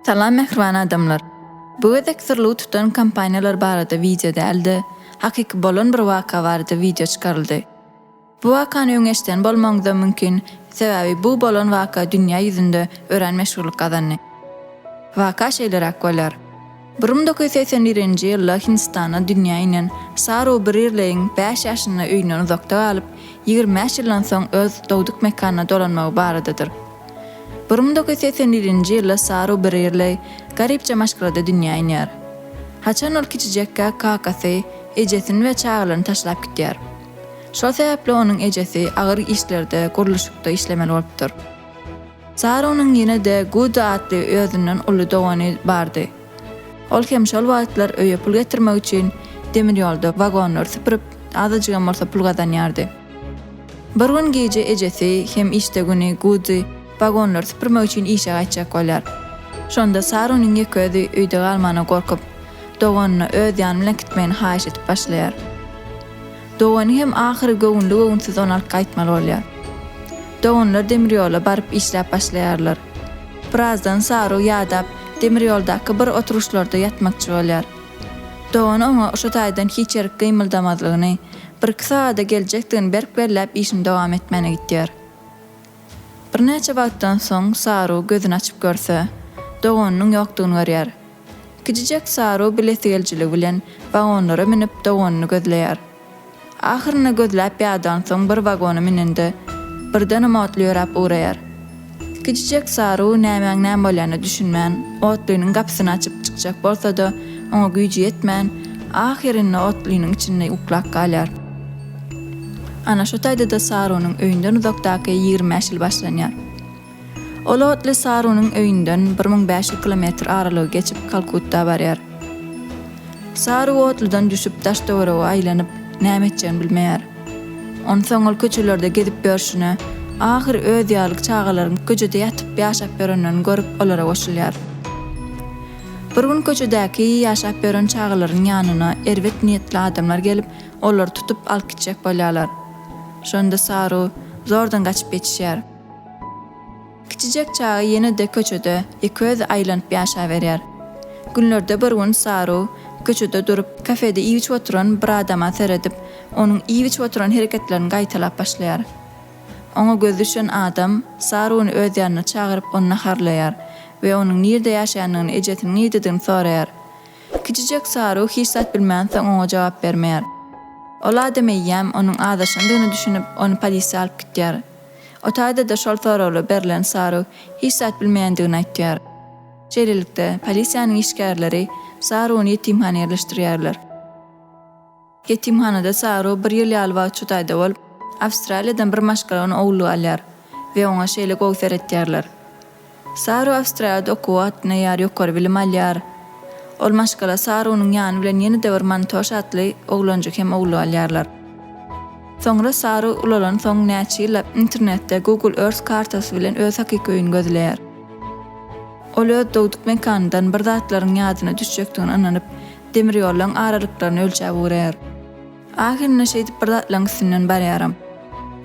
Salam mähriban adamlar. Bu gezek syrlygy tutan kompaniýalar barada wideo däl-de, hakyky bolan bir waka barada wideo çykaryldy. Bu wakany öň eşiden bolmagyňyzam mümkin, sebäbi bu bolan waka dünýä ýüzünde örän meşhurlyk gazandy. Waka şeýleräk bolýar. Bir müň dokuz ýüz segsen birinji ýylda Hindistana dünýä inen Saru Birrleýiň bäş ýaşynda öýünden uzakda galyp, ýigrimi bäş ýyldan soň öz dogduk mekanyna dolanmagy baradadyr. Bir müň dokuz ýüz segsen birinji ýylda Saru Birrleý garypja maşgalada dünýä inýär. Haçan ol kiçijekkä kakasy, ejesini we çagalaryny taşlap gidýär. Şol sebäpli onuň ejesi agyr işlerde, gurluşykda işlemeli bolupdyr. Zarunyň ýene-de Gudy atly özünden uly dogany bardy. Ol hem şol wagtlar öýe pul getirmek üçin demir ýolda wagonlary süpürip, azajygam bolsa pul gazanýardy. Bir gün gije ejesi hem işde güni Gudy wagonlary süpürmek üçin işe gaýtjak bolýar. Şonda Sarunyň ýeke özi öýde galmagyna gorkup, doganyna öz ýany bilen kitmegini haýyş edip başlaýar. Dogany hem ahyry göwünli-göwünsiz ony alyp gaýtmaly bolýar. Doganlar demir ýola baryp işläp başlaýarlar. Birazdan Saru ýadap, demir ýoldaky bir oturuşlarda ýatmakçy bolýar. Dogany oňa şo taýdan hiç ýerik gymyldamazlygyny, birki sagada geljekdigini berk belläp işini dowam etmäne gitýär. Birnäçe wagtdan soň Saru gözüni açyp görse, doganynyň ýokdugyny görýär. Kiçijek Saru bilesigelijiligi bilen wagonlara münüp doganyny gözleýär. Ahyrynda gözläp ýadansoň bir wagona münende, birdenem Otly ýöräp ugraýar. Kiçijek Saru nämäň näme bolýanyna düşünmän, Otlynyň gapysyny açyp çykjak bolsada, oňa güýji ýetmän, ahyrynda Otlynyň içinde uklap galýar. Ana şo taýdada Sarunyň öýünden uzakdaky ýigrimi bäş ýyl başlanýar. Ol otly Sarunyň öýünden bir müň bäş ýüz kilometr aralygy geçip Kalkutta barýar. Saru otludan düşüp daş-töwerege aýlanyp, näme etjegini bilmeýär. Onsoň ol köçelerde gezip ýörşüne, ahyr öz ýaly çagalaryň köçede ýatyp ýaşap ýörenlerini görüp olara goşulýar. Bir gün köçedäki ýaşap ýören çagalaryň ýanyna erbet niýetli adamlar gelip, olary tutup alyp gitjek bolýarlar. Şonda Saru zordan gaçyp ýetişýär. Kiçijek çaga ýene-de köçede iköz aýlanyp ýaşaberýär. Günlerde bir gün Saru köçede durup, kafede iýip-içip oturan bir adama seredip, onuň iýip-içip oturan hereketlerini gaýtalap başlaýar. Oňa gözi düşen adam Saruny öz ýanyna çagyryp, ony naharlaýar we onuň nirde ýaşaýandygyny, ejesiniň nirdedigini soraýar. Kiçijek Saru hiç zat bilmänsoň oňa jogap bermeýär. Ol adam eýýäm onuň azaşandygyna düşünip, ony polisiýa alyp gitýär. O taýda-da şol soragly berlen Saru hiç zat bilmeýändigini aýtýar. Şeýlelikde, polisiýanyň işgärleri Saruny ýetimhana ýerleşdirýärler. Ýetimhanada Saru bir ýyl ýaly wagt şu taýda bolup, Awstraliýadan bir maşgala ony ogullyga alýar we oňa şeýle gowy seretýärler. Saru Awstriýada okuwa atnaýar, ýokary bilim alýar. Ol maşgala Sarunyň ýany bilen ýene-de bir Mantoş atly oglanjyk hem ogly alýarlar. Soňra Saru ulalansoň näçe ýyllap internetde Google Earth kartasy bilen öz hakyky öýüni gözleýär. Ol öz dogduk mekanyndan bir zatlaryň ýadyna düşjekdigine ynanyp, demirýollaryň aralyklaryny ölçäp ugraýar. Ahyrynda şeýdip bir zatlaryň üstünden barýaram.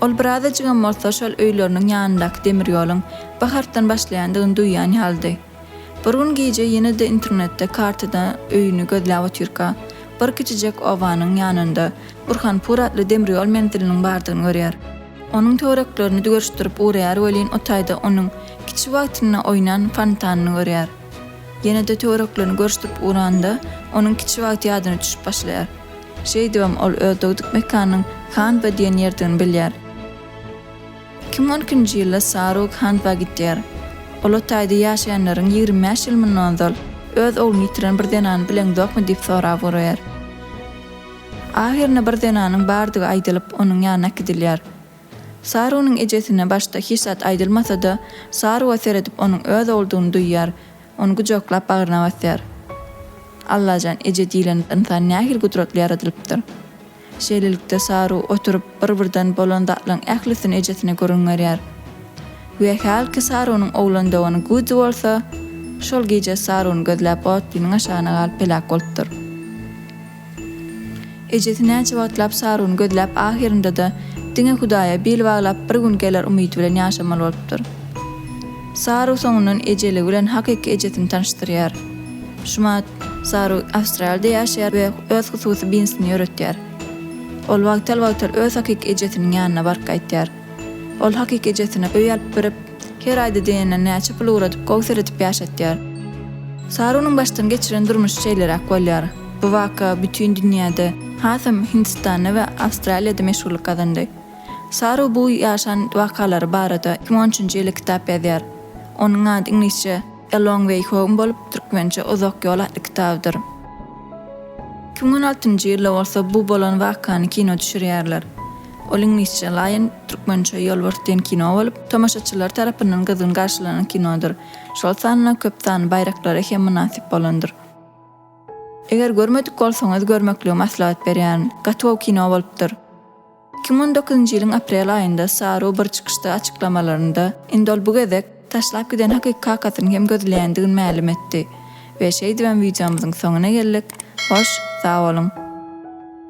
Ol birazajygam bolsa şol öýleriniň ýanyndaky demir ýoluň bir harpdan başlaýandygyny duýýan ýalydy. Bir gün gije ýene-de internetde kartada öýüni gözläp otyrka, bir kiçijek obanyň ýanynda Burhanpur atly demir ýol menziliniň bardygyny görýär. Onuň töwereklerini dügerişdirip ugraýar welin o taýda onuň kiçi wagtynda oýnan fontanyny görýär. Ýene-de töwereklerini görüşdirip ugranda, onuň kiçi wagty ýadyna düşüp başlaýar. Şeýdibem ol öz dogduk mekanynyň Hanwa diýen ýerdigini bilýär. Iki müň on ikinji ýylda Sarug Hanwa gidýär. Ol o taýda ýaşaýanlaryň ýigrimi bäş ýyl mundan ozal öz ogluny ýitiren bir zenany bileňzokmy diýip sorap guraýar. Ahyrynda bir zenanyň bardygy aýdylyp, onuň ýanyna äkidilýär. Sarugynyň ejesine başda hiç zat aýdylmasa-da, Saruga seredip onuň öz ogludygyny duýýar. Ony gujaklap bagryna basýar. Allajan, eje diýlen ynsan nähili gudratly ýaradylypdyr. Şeýlelikde Saru oturyp bir-birden bolan zatlaryň ählisini ejesine gürrüň berýär. We hälki Sarunyň oglan dogany Gudzi bolsa, şol gije Saruny gözläp otlynyň aşagyna galyp heläk bolupdyr. Ejesi näçe wagtlap Saruny gözläp ahyrynda-da diňe Hudaýa bil baglap bir gün geler umydy bilen ýaşamaly bolupdyr. Saru soňundan ejeligi bilen hakyky ejesini tanyşdyrýar. Şumat, Saru Awstraliýada ýaşaýar we öz hususy binsini ýöretýär. Ol wagtal-wagtal öz hakyky ejesiniň ýanyna baryp gaýtýar. Ol hakyky ejesine öý alyp berip, Her aýda diýenden näçe pul ugradyp, gowseredip ýaşatýar. Sarunyň başdan geçiren durmuşy şeýleräk bolýar. Bu waka bütin dünýäde, hasam Hindistanda we Awstraliýada meşhurlyk gazandy. Saru bu ýaşan wakalary barada iki müň on üçünji ýyly kitap ýazýar. Onuň ady iňlisçe A Long Way Home bolup, türkmençe Uzak ýol atly kitabydyr. Iki müň on altynjy ýylda bolsa bu bolan wakany kino düşürýärler. Ol iňlisçe Lion, türkmençe Ýolbars diýen kino bolup, tomaşaçylar tarapyndan gyzgyn garşylanan kinodyr. Şol sanda köp sanly baýraklara hem mynasyp bolandyr. Eger görmedik bolsaňyz görmekligi maslahat berýärin. Gaty gowy kino bolupdyr. Iki müň on dokuzynjy ýylyň aprel aýynda Saru bir çykyşda açyklamalarynda, indi ol bu gezek taşlap giden hakyky kakasyny hem gözleýändigini mälim etdi. We şeýdibem wideomyzyň soňuna geldik. Hoş, sag boluň!